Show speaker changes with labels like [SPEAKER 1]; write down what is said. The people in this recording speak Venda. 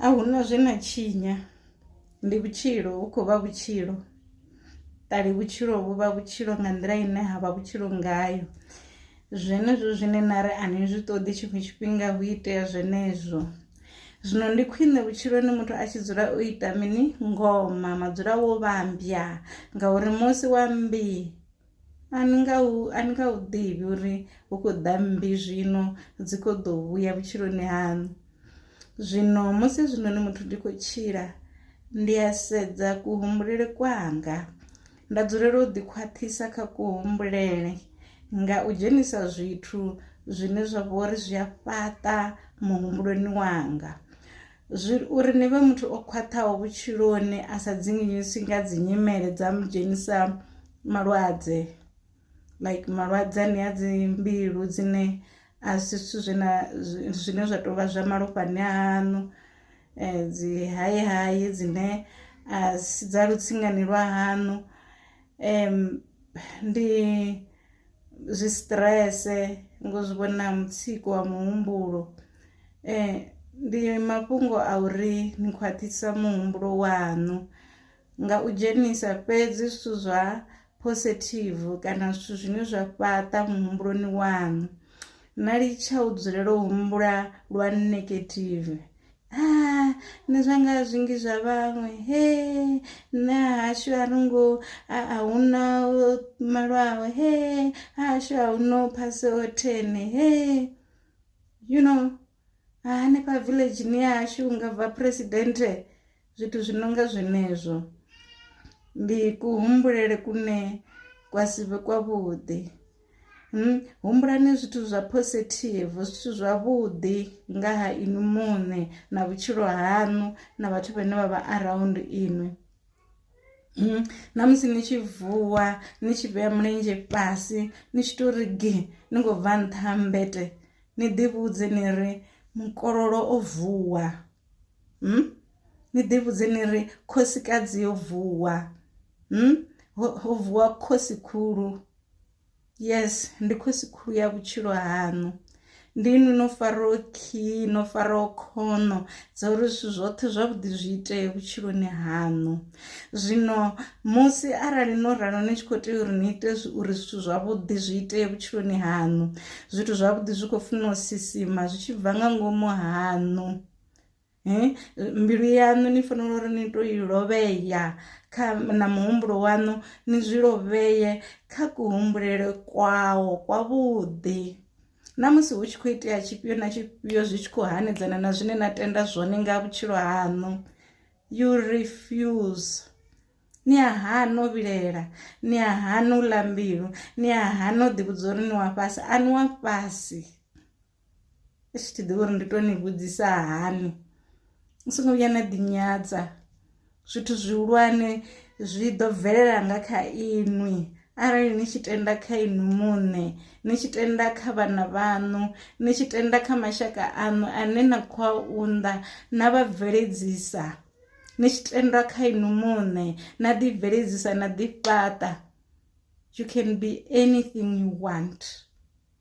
[SPEAKER 1] A hu na zwe na tshinya ndi vhutshilo hu khou vha vhutshilo ṱali vhutshilo vhu vha vhutshilo nga nḓila ine ha vha vhutshilo ngayo zwenezwo zwine na ri a ni zwi ṱoḓi tshiṅwe tshifhinga hu itea zwenezwo zwino ndi khwine vhutshiloni muthu a tshi dzula o ita mini ngoma madzula wo vhambya ngauri musi wa mmbi A ni nga hu, a ni nga hu ḓivhi uri hu khou ḓa mmbi zwino, dzi khou ḓo vhuya vhutshiloni haṋu. Zwino musi hezwinoni muthu ndi khou tshila, ndi a sedza kuhumbulele kwanga, nda dzulela u ḓi khwaṱhisa kha kuhumbulele nga u dzhenisa zwithu zwine zwa vha uri zwi a fhaṱa muhumbuloni wanga. Zwi, uri ni vhe muthu o khwaṱhaho vhutshiloni a sa dzinginyiswi nga dzi nyimele dza mu dzhenisa malwadze like malwadze ane a dzi mbilu dzine a si zwithu zwe na zwine zwa tou vha zwa malofhani aṋu dzi hayi hayi dzine a si dza lutsingani lwa haṋu Ndi zwi stress ngo zwi vhona mutsiko wa muhumbulo, ndi mafhungo a uri ni khwaṱhisa muhumbulo waṋu nga u dzhenisa fhedzi zwithu zwa positive kana zwithu zwine zwa fhaṱa muhumbuloni waṋu, na litsha u dzulela u humbula lwa negative. Ah, nṋe zwanga zwingi zwa vhaṅwe he nṋe hashu a ri ngo a hu na malwaho he hashu a hu no phase othene he you know hanefha villageni ya hashu nga bva phuresidennde zwithu zwi no nga zwenezwo ndi kuhumbulele kune kwa si vhe kwavhuḓi. Hmm, humbulani zwithu zwa positive zwithu zwavhuḓi nga ha inwi muṋe na vhutshilo haṋu na vhathu vhane vha vha around inwi hmm, na musi ni tshi vuwa ni tshi vhea mulenzhe fhasi ni tshi to ri gi ni khou bva nṱha ha mbete ni ḓivhudze ni ri mukololo o vuwa hmm? ni ḓivhudze ni ri khosikadzi yo vuwa hmm? ho vuwa khosi khulu Yes ndi khosi khulu ya vhutshilo haṋu ndi inwi no faraho khiyi no faraho khono dza uri zwithu zwoṱhe zwavhuḓi zwi itee vhutshiloni haṋu. Zwino musi arali no ralo ni tshi kho tea uri ni ite uri zwithu zwavhuḓi zwi itee vhutshiloni haṋu zwithu zwavhuḓi zwi kho funa u sisima zwi tshi bva nga ngomu haṋu. Mbilu yaṋu ni fanela uri ni to i lovhea kha na muhumbulo waṋu ni zwi lovheye kha ku humbulele kwawo kwa vhuḓi, na musi hu tshi kho itea tshifhio na tshifhio zwi tshi kho hanedzana na zwine na tenda zwone nga vhutshilo haṋu you refuse ni a hana u vhilela ni a hana u ḽa mbilu ni a hana u ḓi vhudza uri ni wa fhasi a ni wa fhasi. i tshi ḓivha uri ndi to ni vhudzisa hani ni songo vhuya na ḓinyadza zwithu zwihulwane zwi ḓo bvelela nga kha inwi arali ni tshi tenda kha inwi muṋe ni tshi tenda kha vhana vhaṋu ni tshi tenda kha mashaka aṋu ane na khou a unḓa na vha bveledzisa ni tshi tenda kha inwi muṋe na ḓi bveledzisa na ḓi fhaṱa you can be anything you want